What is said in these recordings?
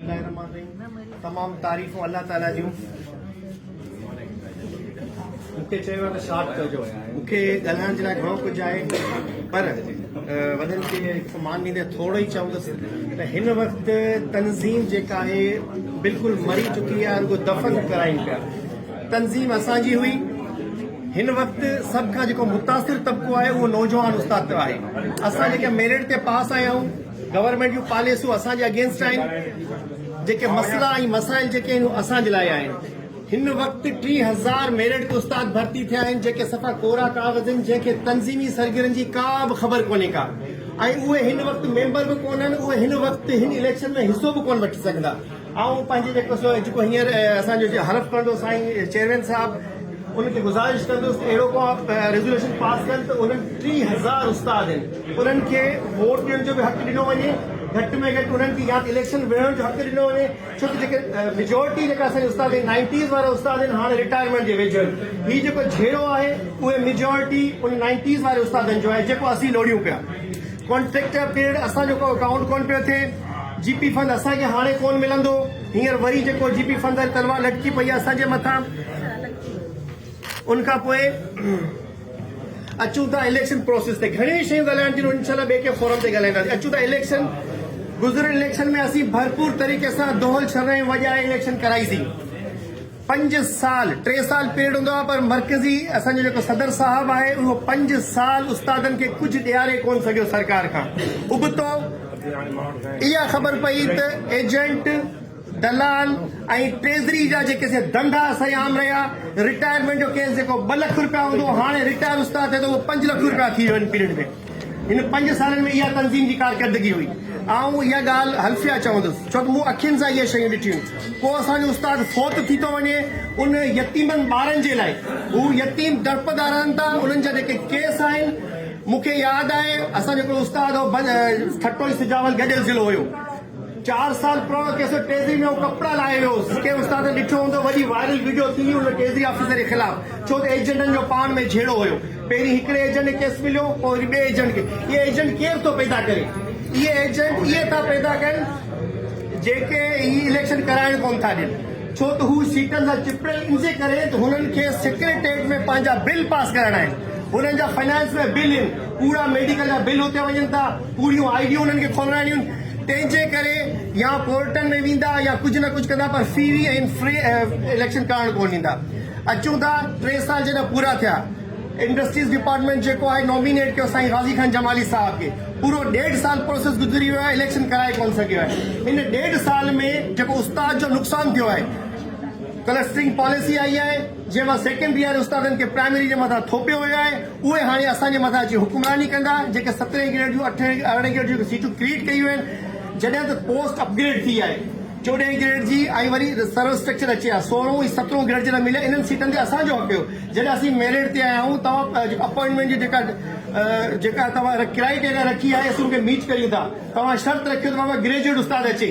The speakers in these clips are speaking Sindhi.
الله الرحمٰن الرحيم تمام تعريفون الله تعالي جون مونکي چيو آهي ته شارٽ ڪجو مونکي ڳالهائڻ جي لاء گهڻو ڪجهه آهي پر وڏن کي مان ڏيندي ٿورو ئي چوندس ته هن وقت تنظيم جيڪا آهي بلڪل مري چڪي آهي رڳو دفن ڪرائين پيا تنظيم اسان جي هئي هن وقت سڀ کان جيڪو متاثر طبقو آهي اهو نوجوان استاد پيو آهي اسان جيڪي ميرٽ تي پاس آيا آهيون گورنمينٽ جون پاليسيون اسان جي اگينسٽ آهن، جيڪي مسئلا ۽ مسائل جيڪي آهن اهي اسان جي لاء آهن، هن وقت ٽي هزار ميرٽ استاد ڀرتي ٿيا آهن جيڪي صفا ڪورا ڪاغذ آهن جنهن کي تنظيمي سرگرن جي ڪا به خبر ڪونهي ڪا ۽ اهي هن وقت ميمبر به ڪونهن اهي هن وقت هن اليڪشن ۾ حصو به ڪونه وٺي سگهندا آئون پنهنجي جيڪو سو جيڪو هينئر اسان جو حلف ڪندو سائين چيئرمين صاحب ان کي گذارش ڪندس ته اهڙو ڪو ريزوليوشن پاس ڪن ته انهن ٽي هزار استاد آهن انهن کي ووٽ ڏيڻ جو به حق ڏنو وڃي گهٽ ۾ گهٽ انهن کي يا ته اليڪشن وڙهڻ جو حق ڏنو وڃي ڇو ته جيڪي ميجورٽي جيڪا اسان استاد آهن نائنٽيز وارا استاد آهن هاڻي رٽائرمينٽ جي ويجهو آهن هي جيڪو جهيڙو آهي اهي ميجورٽي ان نائنٽيز واري استادن جو آهي جيڪو اسين لوڙيون پيا ڪانٽريڪٽر پيرڊ اسان جو ڪو اڪائونٽ ڪون پيو ٿئي جي پي فند اسان کي هاڻي ڪون ملندو هينئر وري جيڪو جي پي فند تلوار لٽڪي پئي آهي اسان جي مٿان ان کان پوء اچون ٿا اليڪشن پروسيس تي گهڻيون شيون ڳالهائڻ جون انشاء الله ٻئي ڪنهن فورم تي ڳالهائينداسين اچون ٿا اليڪشن گذريل اليڪشن ۾ اسين ڀرپور طريقي سان دهل شرائين وڄائي اليڪشن ڪرائيسين پنج سال ٽي سال پيرڊ هوندو آهي پر مرڪزي اسان جو جيڪو صدر صاحب آهي اهو پنج سال استادن کي ڪجهه ڏياري ڪونه سگهيو سرڪار کان ابتو اها خبر پئي ته ايجنٽ دلال ۽ ٽريزري جا جيڪي سي ڌنڌا سائين عام رهيا رٽائرمينٽ جو ڪيس جيڪو ٻه لک روپيا هوندو هو هاڻي رٽائر استاد ٿئي ته اهو پنج لک روپيا ٿي ويو ان پيرڊ ۾ هن پنج سالن ۾ اها تنظيم جي ڪارڪردگي هئي. آئون اها ڳالهه حلفيه چوندس، ڇو ته مون اکين سان اهي شيون ڏٺيون. ڪو اسان جو استاد فوت ٿي ٿو وڃي، ان يتيمن ٻارن جي لاء، هو يتيم ڊرپ ڳاراين ٿا، انهن جا جيڪي ڪيس آهن، مون کي ياد آهي، اسان جو هڪڙو استاد هو، ٺٽو ۽ سجاول گڏيل ضلعو هيو. چار سال پراڻو ڪيس هو ٽيزي ۾ هو ڪپڙا لاهي ويو هو ڪنهن استاد ته ڏٺو هوندو وڏي وائرل وڊيو ٿيندي ان ٽيزي آفيسر جي خلاف ڇو ته ايجنٽن جو پاڻ ۾ جهيڙو هيو پهرين هڪڙي ايجنٽ کي ڪيس مليو پوء وري ٻئي ايجنٽ کي اهي ايجنٽ ڪير ٿو پيدا ڪري اهي ايجنٽ اهي ٿا پيدا ڪن جيڪي هي اليڪشن ڪرائڻ ڪون ٿا ڏين ڇو ته هو سيٽن سان چپڙيل انجي ڪري ته هنن کي سيڪريٽريٽ ۾ پنهنجا بل پاس ڪرائڻا آهن هنن جا فنانس ۾ بل ان ڪوڙا ميڊيڪل جا بل اتي وڃن ٿا پوريون آئي ڊيون انهن کي کولرائڻيون تنهن جي ڪري يا ڪورٽن ۾ ويندا يا ڪجهه نه ڪجهه ڪندا پر فيري ۽ فري اليڪشن ڪرڻ ڪون ڏيندا اچون ٿا ٽي سال جڏهن پورا ٿيا انڊسٽريز ڊپارٽمينٽ جيڪو آهي نومينيٽ ڪيو سائين غازي خان جمالي صاحب کي پورو ڏيڍ سال پروسيس گذري ويو آهي اليڪشن ڪرائي ڪون سگهيو آهي ان ڏيڍ سال ۾ جيڪو استاد جو نقصان ٿيو آهي ڪلسٽرنگ پاليسي آئي آهي جنهن مان سيڪنڊري واري استادن کي پرائمري جي مٿان ٿوپيو ويو آهي اهي هاڻي اسان جي مٿان اچي حڪمراني ڪندا جيڪي سترهين گريڊ جون اٺين ارڙهين گريڊ جون سيٽون ڪريٽ ڪيون آهن جڏهن ته پوسٽ اپ گريڊ ٿي آهي چوڏهين گريڊ جي ۽ وري سروس اسٽرڪچر اچي ها سورهون ۽ سترهون گريڊ جي نه ملي انهن سيٽن تي اسان جو حق هيو جڏهن اسين ميرٽ تي آيا آهيون توهان جيڪو اپوائنٽمينٽ جي جيڪا جيڪا توهان ڪرائي ٽيريا رکي آهي اسين ان کي ميٽ ڪريون ٿا توهان شرط رکيو ته بابا گريجوئيٽ استاد اچي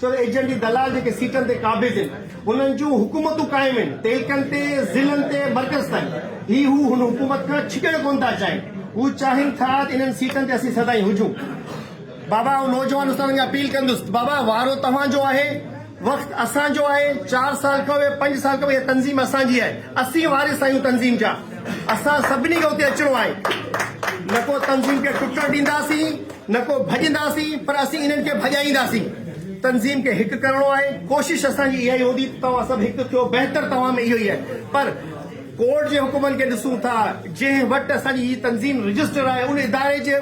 ڇو ته ايجنٽ ۽ دلال جيڪي سيٽن تي قابض آهن، انهن جون حڪومتون قائم آهن، تعلقن تي، ضلعن تي، مرڪز تائين. هي هو هن حڪومت کان ڇڪڻ ڪونه ٿا چاهين. هو چاهين ٿا ته انهن سيٽن تي اسين سدائين هجون. بابا آئون نوجوان استادن کي اپيل ڪندس ته بابا وارو توهان جو آهي، وقت اسان جو آهي، چار سال کڻو يا پنج سال کڻو، اها تنظيم اسان جي آهي، اسين وارث آهيون تنظيم جا، اسان سڀني کي اتي اچڻو آهي، نه ڪو تنظيم کي ٽٽڻ ڏينداسين. نه ڪو ڀڄنداسين پر اسين انهن کي ڀڄائينداسين تنظيم کي هڪ ڪرڻو آهي ڪوشش اسان جي اها ئي هوندي ته توهان سڀ هڪ ٿيو بهتر توهان ۾ اهو ئي آهي پر ڪورٽ جي حڪمن کي ڏسون ٿا جنهن وٽ اسان جي هي تنظيم رجسٽر آهي ان اداري جي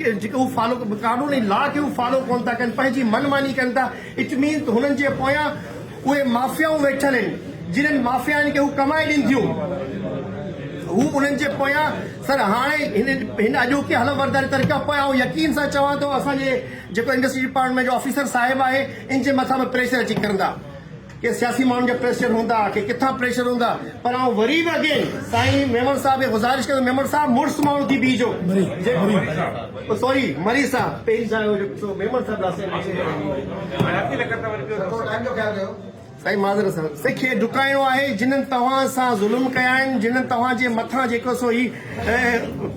جيڪي هو فالو قانون ۽ لا کي هو فالو ڪونه ٿا ڪن پنهنجي من ماني ڪن ٿا اٽ مينز هنن جي پويان اهي مافيائون ويٺل آهن جنهن مافيائن کي هو ڪمائي ڏين ٿيون هو انهن جي پويان سر هاڻي هن اڄوڪي حلف برداري طريقي کان پوء آئون يقين سان چوان ٿو اسان جي جيڪو انڊسٽري ڊپارٽمينٽ جو آفيسر صاحب آهي ان جي مٿان به پريشر اچي ڪرندا ڪي سياسي ماڻهن جا پريشر هوندا ڪي ڪٿان پريشر هوندا پر آئون وري به اگين سائين ميمڻ صاحب کي گذارش ڪندو ميمڻ صاحب مڙس ماڻهو ٿي بيهجو سوري مري صاحب پيري صاحب هو جو سو ميمڻ صاحب لاء سين اچي سائين معذرت سان سي کي ڊڪائڻو آهي جنن توهان سان ظلم ڪيا آهن جنن توهان جي مٿان جيڪو سو هي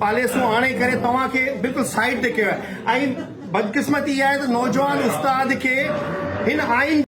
پاليسون آڻي ڪري توهان کي بلڪل سائيڊ تي ڪيو آهي ۽ بدقسمتي اها آهي ته نوجوان استاد کي هن آئين